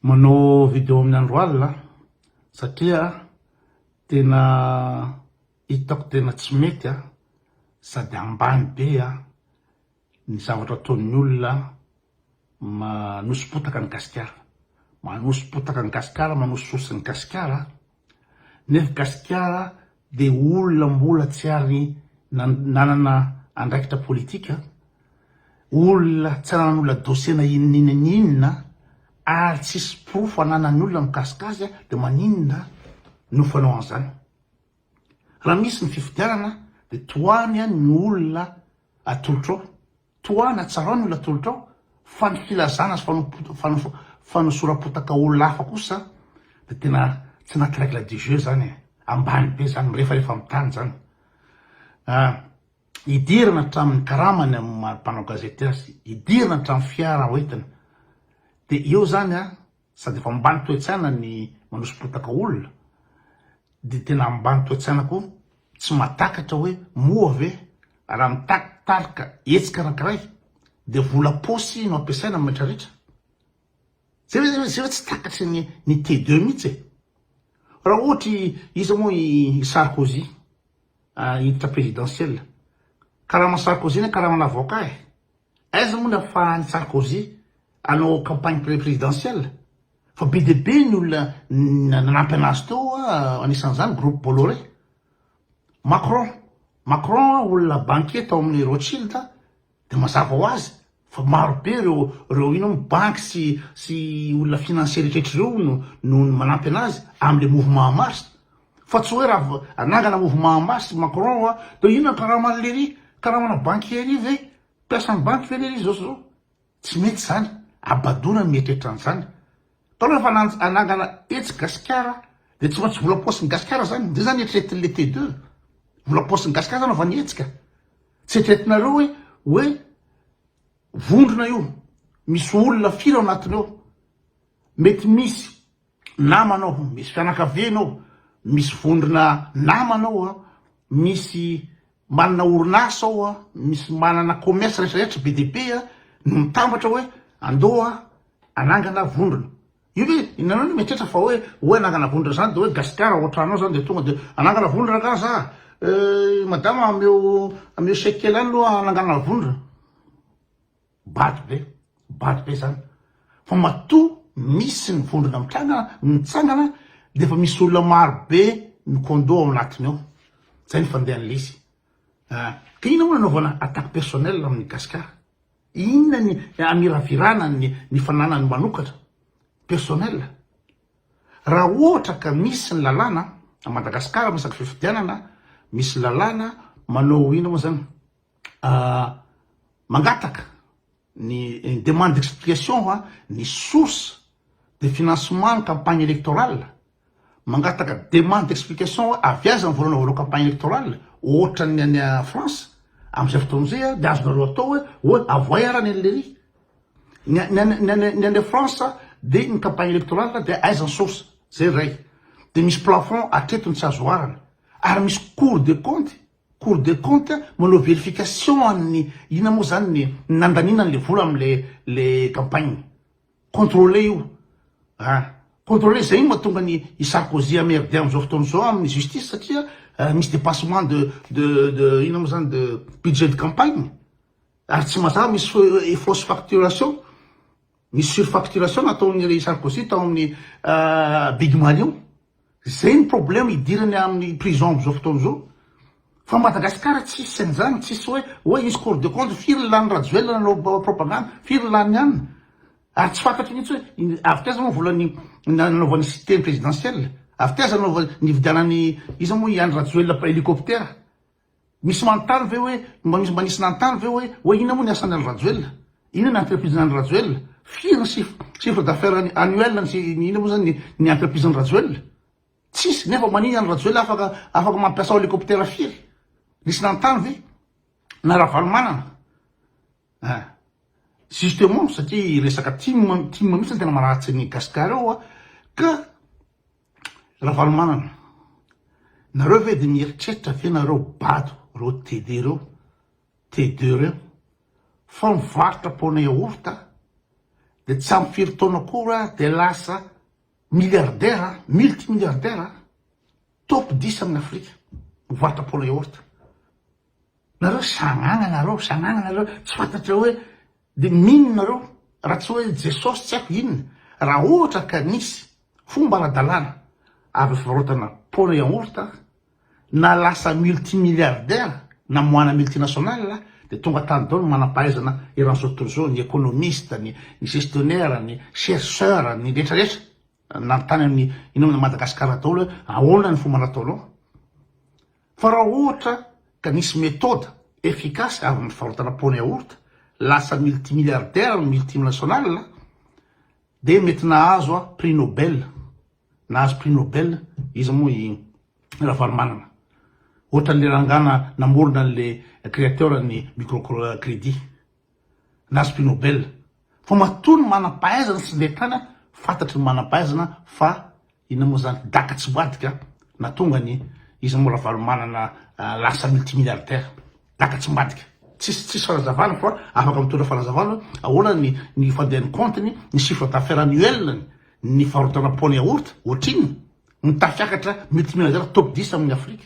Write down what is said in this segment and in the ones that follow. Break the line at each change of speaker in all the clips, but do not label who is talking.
Manao video amin'ny andro alina aho satria tena hitako tena tsy mety aho sady ambany be aho ny zavatra ataon'ny olona manoso-potaka an'i Gasikara. Manoso-potaka an'i Gasikara, manoso-source an'i Gasikara Nefa Gasikara dia olona mbola tsy ary nanana andraikitra politika, olona tsy ary nanonla dossier na inona na inona ary tsisy porofo ananan'ny olona mikasika azy dia maninona no fanao an'izany? Raha misy ny fifidianana dia tohany ny olona atolotrao Tohana tsarao ny olatolotrao fa ny filazana sy fanosoram-potaka olona hafa kosa dia tena tsy anaty règle du jeu zany e! Ambany be zany, mirefarefa amin'ny tany zany. Hidirana hatramin'ny karamany amin'ny maha mpanao gazety azy, hidirana hatramin'ny fiara hoentiny, dia eo zany an! Sady efa ambany toe-tsaina ny manoso-potaka olona, dia tena ambany toe-tsaina koa tsy mahatakatra hoe moa ve raha mitaky tarika hetsika anankiray dia vola paosy no ampiasaina amin'ny retraretra? Zay ve zay ve tsy takatry ny ny T2 mihitsy e! Raha ohatry iza moa i Sarkozy hiditra présidentielle? Karaman'i Sarkozy anie karaman'avocat e! Aiza moa no afahan'i Sarkozy hanao campagne présidentielle? Fa be dia be ny olona nanampy anazy teo anisan'izany groupe Bolloré. Macron, Macron olona banquier tao amin'ny Rothschild dia mazava ho azy fa maro be ireo ireo inona moa banky sy sy olona financier rehetra ireo no no manampy anazy amin'ilay mouvement en marche. Fa tsy hoe raha anangana mouvement en masse Macron hoa dia inona ny karaman'i lery? Karamana banquier-y ve? Mpiasan'ny banky ve lery izao sy izao? Tsy mety izany, habadoana ny mieritreritra an'izany. Ka rehefa hanangana etsy Gasikara dia tsy maintsy vola paosin'i Gasikara izany, izay izany eritreretin'i le T2. Vola paosin'i Gasikara izany anaovany hetsika. Tsy eritreretinareo hoe hoe vondrona io, misy olona firy ao anatiny ao? Mety misy namana ao, misy fianakaviana ao, misy vondrona namana ao, misy manana orinasa ao, misy manana commerce rehetra rehetra be dia be no mitambatra hoe andao hanangana vondrona. Io ve ianareo no mieritreritra fa hoe hoe hanangana vondrona zany de hoe Gasikara ao an-trano ao zany de tonga de hanangana vondrona angaha za? Madama ameo ameo chèque kely any aloha hanangana vondrona. Bado be, bado be zany fa matoa misy ny vondrona mitranga mitsangana dia efa misy olona maro be ny condo ao anatiny ao, zay ny fandehan'ilay izy ah, ka inona moa nanaovana attaque personnelle amin'ny Gascar? Inona ny hamiravirana ny ny fananany manokatra personnelle? Raha ohatra ka misy ny lalàna a Madagasikara miresaka fifidianana, misy lalàna manao inona moa zany? Mangataka ny une demande d'explication ho an'ny source de financement ny campagne électorale, mangataka demande d'explication hoe avy aiza ny vola nanaovanao campagne électorale, ohatran'ny any France amin'izay fotoana izay an dia azonareo atao hoe hoe avohay ara ny an'i leiry, ny any ny any ny any France dia ny campagne électorale dia aiza ny source, izay iray, dia misy plafond hatreto ny tsy azo oharana, ary misy cour des comptes Cour de compte manao verification an'ny inona moa zany ny nandaniana an'le vola amle le campagne. Contrôler io an! Contrôler zay no mahatonga ny i Sarkozy hamerde amzao fotoana zao amin'ny justice satria misy dépassement de de de inona moa zany de budget de campagne ary tsy mazava misy fausse facturation. Ny surfacturation nataon'i Ray Sarkozy tao amin'ny big money io. Zay ny problème hidirany amin'ny prison amin'izao fotoana izao. Fa Madagascar tsisy an'izany, tsisy hoe oe hisy cours de compte, firy ny lanin'i Rajoelina nanao propagande, firy ny lanin'i anona. Ary tsy fantatro mihitsy hoe avy taiza moa ny vola nanaovany cité ny présidentielle, avy taiza ny nividianany iza moa i Andry Rajoelina helicoptère. Misy manontany ve hoe, misy mba nisy nanontany ve hoe, hoe inona moa ny asan'i Andry Rajoelina? Inona ny entreprise-n'i Andry Rajoelina? Firy ny chiffre d'affaires annuel sy ny inona moa izany ny entreprise-n'i Rajoelina? Tsisy, nefa maninona Andry Rajoelina afaka, afaka mampiasa helicoptère firy? Nisy nanontany ve? Na Ravalomanana? Ah. Justement, satria resaka tim, tim mihitsy no tena marary antsika Gasikara ao, ka. Ravalomanana, nareo ve dia mieritreritra ve nareo bado reo TD reo, TD reo, fa mivarotra paona yaourt dia tsy ampy firy taona akory ary dia lasa milliardaire, multi milliardaire, top dix amin'ny Afrika mivarotra paona yaourt. Nareo sagnagna nareo, sagnagna nareo, tsy fantatrareo hoe Dia mino nareo raha tsy hoe Jesosy tsy haiko inona raha ohatra ka nisy fomba ara-dalàna azo fivarotana paona yaourt na lasa multimilliardaire na moana multinationale dia tonga tany daholo ny manam-pahaizana eran'izao tontolo izao ny economiste ny ny gestionnaire ny chercheur ny rehetra rehetra nanontany amin'ny ino amin'i Madagasikara daholo hoe ahoana ny fomba nataonao Fa raha ohatra ka nisy méthode efficace avy amin'ny fivarotana pont yaourt lasa multimilliardaire ny multinational dia mety nahazo a prix nobel nahazo prix nobel iza moa i ravalomanana ohatran'le rangana namorona an'le créateur ny micro credit na spinobel fa matoa ny manam-pahaizana sy ndeha tany fantatry ny manam-pahaizana fa inona moa zany daka tsy boadika na tonga ny izy moa ravalomanana lasa multimilliardaire daka tsy mbadika tsisy tsisy fanazavana fa afaka mitondra fanazavana ahoana ny ny fandehan'ny compte-ny ny chiffre d'affaires annuel-ny ny farotana pony yaourt ohatrinona mitafiakatra multimilliardaire top 10 amin'ny afrika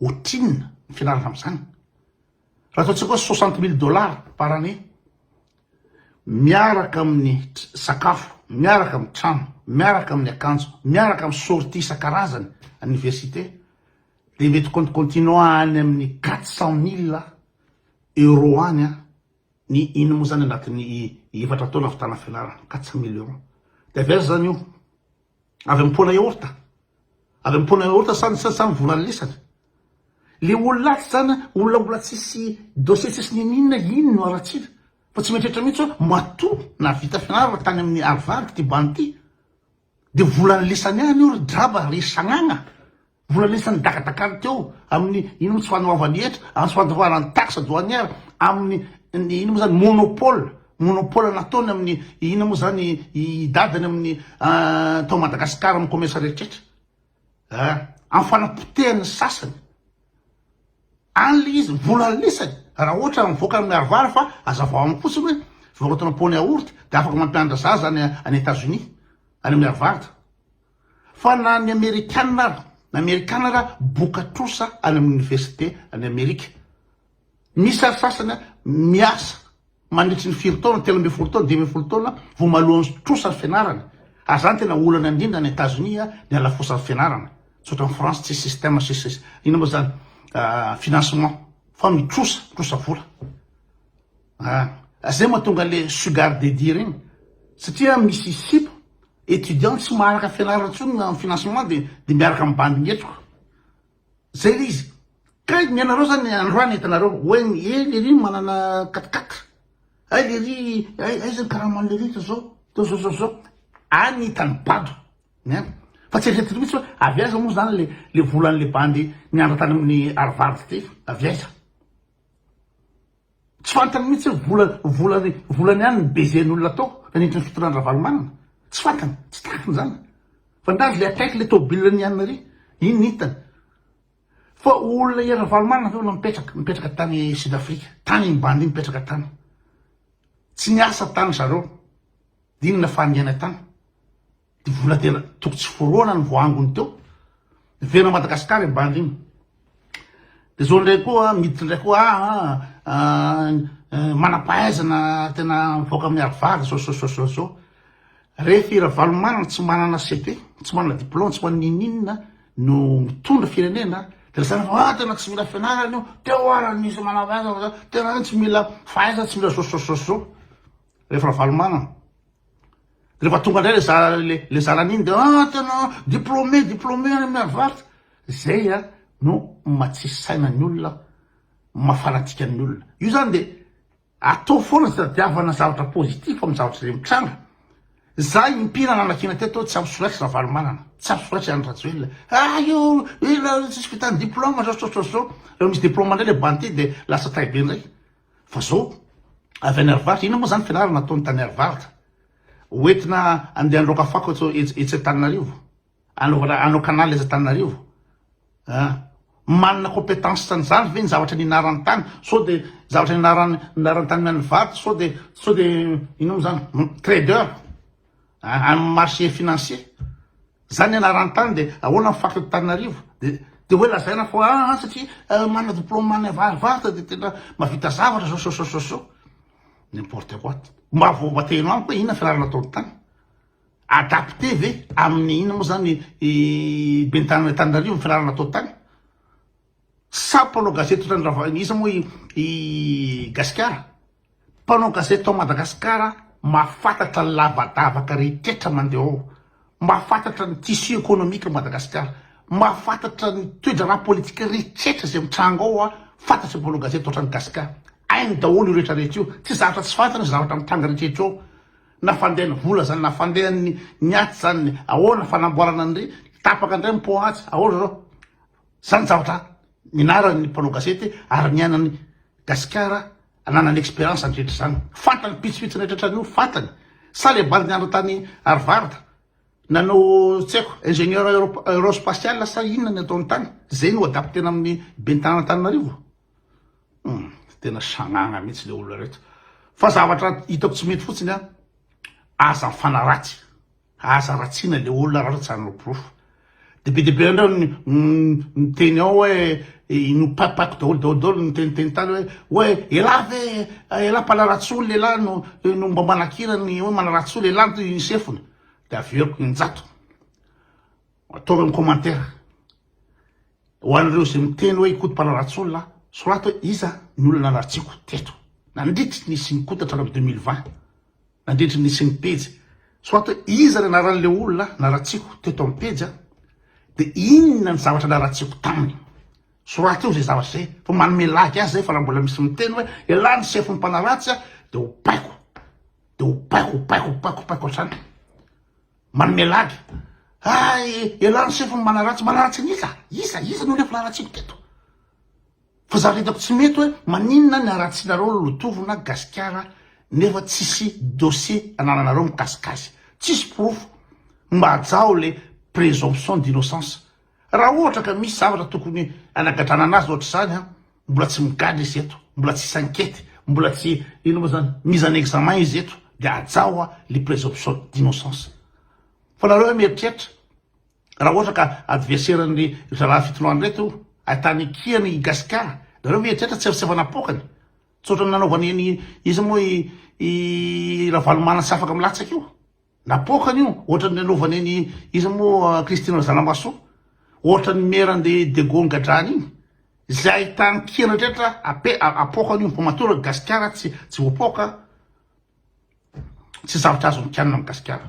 Ohatrinona ny fianarana amin'izany? Raha ataontsika hoe soixante mille dollars par année, miaraka amin'ny sakafo, miaraka amin'ny trano, miaraka amin'ny akanjo, miaraka amin'ny sortie isan-karazany any université, dia mety kontikontinao any amin'ny quatre cent mille euros any ny iny moa izany anatin'ny efatra taona ahavitana fianarana, quatre cent mille euros. Dia avy aiza izany io? Avy am pôna yaourt. Avy am pôna yaourt sa sa sa mivola ny lesany. Le olona atsy zany a olona mbola tsisy dossier tsisy niniana iny no aratsiana fa tsy mieritreritra mihitsy hoe matoa nahavita fianarana tany amin'ny Harvard ty bandy ty de volan'ny lesany ihany io ry draba ry sagnagna Mbola nisy ny dakadakany teo amin'ny iny moa tsy fanoavany hetra, amin'ny fandoroana ny taxe douanière, amin'ny ny iny moa zany monopole, monopole nataony amin'ny ina moa zany i dadany amin'ny tao Madagascar amin'ny commerce rehetrretra a, amin'ny fanapotehany ny sasany, any le izy mbola anisany raha ohatra mivoaka ny miharivary fa azavao amiko fotsiny hoe fivarotana pont ny yaourt de afaka mampianatra zaza any any Etats Unis any miharivary. Fa na ny amerikana ara, ny amerikana ara boka trosa any amin'ny université any amerika. Misy ary sasany miasa mandritry ny firy taona, telo ambin'ny folo taona, dimy ambin'ny folo taona vao maloan'ny trosa ny fianarany. Ary izany tena olana indrindra any Etazonia ny halafosan'ny fianarana. Tsy ohatran'i France tsisy système, tsisy inona moa izany, financement, fa mitrosa, mitrosa vola. Ah zay mahatonga le sugar daddy regny satria misy sipa étudiant tsy maharaka fianarana tsony na financement de de miaraka am bandy mihetroka zay le izy ka ny anareo zany androany hitanareo hoe eh lery manana quatre quatre ay lery ay aiza ny karaman'i lery to zao to zao zao zao any hitany bado ein fa tsy eritreritiny mihitsy hoe avy aiza moa zany le le volan'le bandy niandra tany amin'ny arivard ty avy aiza Tsy fantany mihitsy hoe vola volany ihany ny baiser ny olona tao nanindry ny fitondrany Ravalomanana. Tsy fantany, tsy takiny izany. Fa ndranzo ilay akaiky ilay tomobilina ny Anne Marie, iny no hitany. Fa olona i Ravalomanana ve olona mipetraka, mipetraka tany Sud Afrika, tany iny bandy iny mipetraka tany. Tsy niasa tany zareo, dia inona fahangiana tany. Dia vola tena toko tsy foroana ny voangony teo. Vera Madagasikara i Bandrina. Dia izao indray koa, miditra indray koa, ah, ah, ah, eh, manampahaizana tena mivoaka amin'ny arivary, zao, zao, zao, zao, zao. Rehefa i Ravalomanana tsy manana CP, tsy manana diplôme, tsy manana ininina, no mitondra firenena, dia zany fa, ah, tena tsy mila fianarana io, teo ara nisy manampahaizana, tena tsy mila fahaizana, tsy mila zao, zao, zao, zao. Rehefa Ravalomanana. Rehefa tonga indray le zara le le zara niny de ah tena diplômé diplômé any amin'ny Harvard. Zay a no matsisy saina ny olona, maha fanatika ny olona. Io zany de atao foana tadiavana zavatra positif amin'ny zavatra izay mitranga. Za impira nanakiana teto tsy ampy solaitra Ravalomanana, tsy ampy solaitra Andry Rajoelina. Ah io ela tsisy vitany diplôma zao zao zao zao. Rehefa misy diplôma indray le banty de lasa tahibe indray. Fa zao avy any Harivarotra, inona moa zany fianarana ataony tany Harivarotra? Ho entina andeha handroaka fako eto etsy Antananarivo? Anaovana hanao canal etsy Antananarivo? A, manana compétence an'izany ve ny zavatra nianarany tany? Sao dia zavatra nianarany nianarany tany amin'ny Harivarotra sao dia sao dia inona moa zany? Trader? A, amin'ny marché financier? Zany ianarany tany de ahoana ny faritry Antananarivo de de hoe lazaina fa aa satria manana diploma any avarivarotra de tena mavita zavatra zao so so so n'importe quoi mba vao bateheno amiko hoe inona fianarana ataony tany adapte ve aminy inona moa zany i ben'ny tanana Antananarivo ny fianarana atao tany sa mpanao gazety otran'ny Rava iza moa i gasikara Mpanao gazety tao Madagasikara mahafantatra ny lavadavaka rehetra mandeha ao, mahafantatra ny tissu économique ao Madagasikara, mahafantatra ny toedraharaha politika rehetra izay mitranga ao, fantatry ny mpanao gazety ohatran'i Gasika, hainy daholo io rehetra rehetra io, tsy zavatra tsy fantany ny zavatra mitranga rehetra rehetra ao, na fandehan'ny vola izany na fandehan'ny ny atsy izany ahoana fanamboarana an'ireny, tapaka indray ny pont atsy, ahoana izao. Zany zavatra nianaran'ny mpanao gazety ary niainan'i Gasikara nanana expérience handritra izany. Fantany pitsopitsony rehetra hatrany fantany. Sa le bandy nianatra tany Harvard nanao tsy haiko ingénieur aerospatial sa inona ny ataony tany zay no adaptena amin'ny ben'ny tanàna Antananarivo? Hum, tena sagnagna mihitsy le olona reto. Fa zavatra hitako tsy mety fotsiny an, aza mifanaratsy. Aza ratsina le olona raha tsy hanao porofo de be de be andreo miteny ao hoe ino papak daholo daholo daholo miteniteny tany hoe hoe elah ve elah mpanaratsy olona elah no no mba manakirany hoe manaratsy olona elah to ny sefony de averiko injato ataovy amin'ny commentaire ho an'ireo izay miteny hoe ikoto mpanaratsy olona soraty hoe iza ny olona naratsiko teto nandritry ny isin'ny kota hatramin'ny 2020 Nandritry ny nisian'ny pejy, soit hoe iza ny anaran'ilay olona naratsiako teto amin'ny pejy an, dia inona ny zavatra naratsiako taminy. Soraty eo izay zavatra izay fa manome lagy azy izay fa raha mbola misy miteny hoe elah ny sefo ny mpanaratsy an, dia ho baiko, dia ho baiko, ho baiko, ho baiko, ho baiko hatrany. Manome lagy, hay elah ny sefo ny manaratsy, manaratsy an'iza? Iza? Iza no olona efa naratsiako teto? Fa zavatra hitako tsy mety hoe maninona ny haratsinareo lolotovona gasikara nefa tsisy dossier anananareo mikasika azy. Tsisy porofo mba hajaho le presomption d'innocence. Raha ohatra ka misy zavatra tokony hanagadranana azy ohatr'izany an, mbola tsy migadra izy eto, mbola tsy s'inquiète, mbola tsy inona moa zany, mise en examen izy eto dia hajaho le presomption d'innocence. Fa nareo ve mieritreritra Raha ohatra ka adverseran'ny rahalahy fitondran reto ahitany ikiany i Gasikara, nareo ve eritreritra tsy efa napoakany? Tsy ohatran'ny nanaovany an'i iza moa i i Ravalomanana tsy afaka milatsaka io? Napoakany io, ohatran'ny nanaovany an'i iza moa Christine Razanambasoa? Ohatran'ny maire an'i Degony Gadrany iny? Izay ahitany kiany rehetra ape apoakany io fa matoa Gasikara tsy tsy voapoaka, tsy zavatra azony kianina amin'i Gasikara.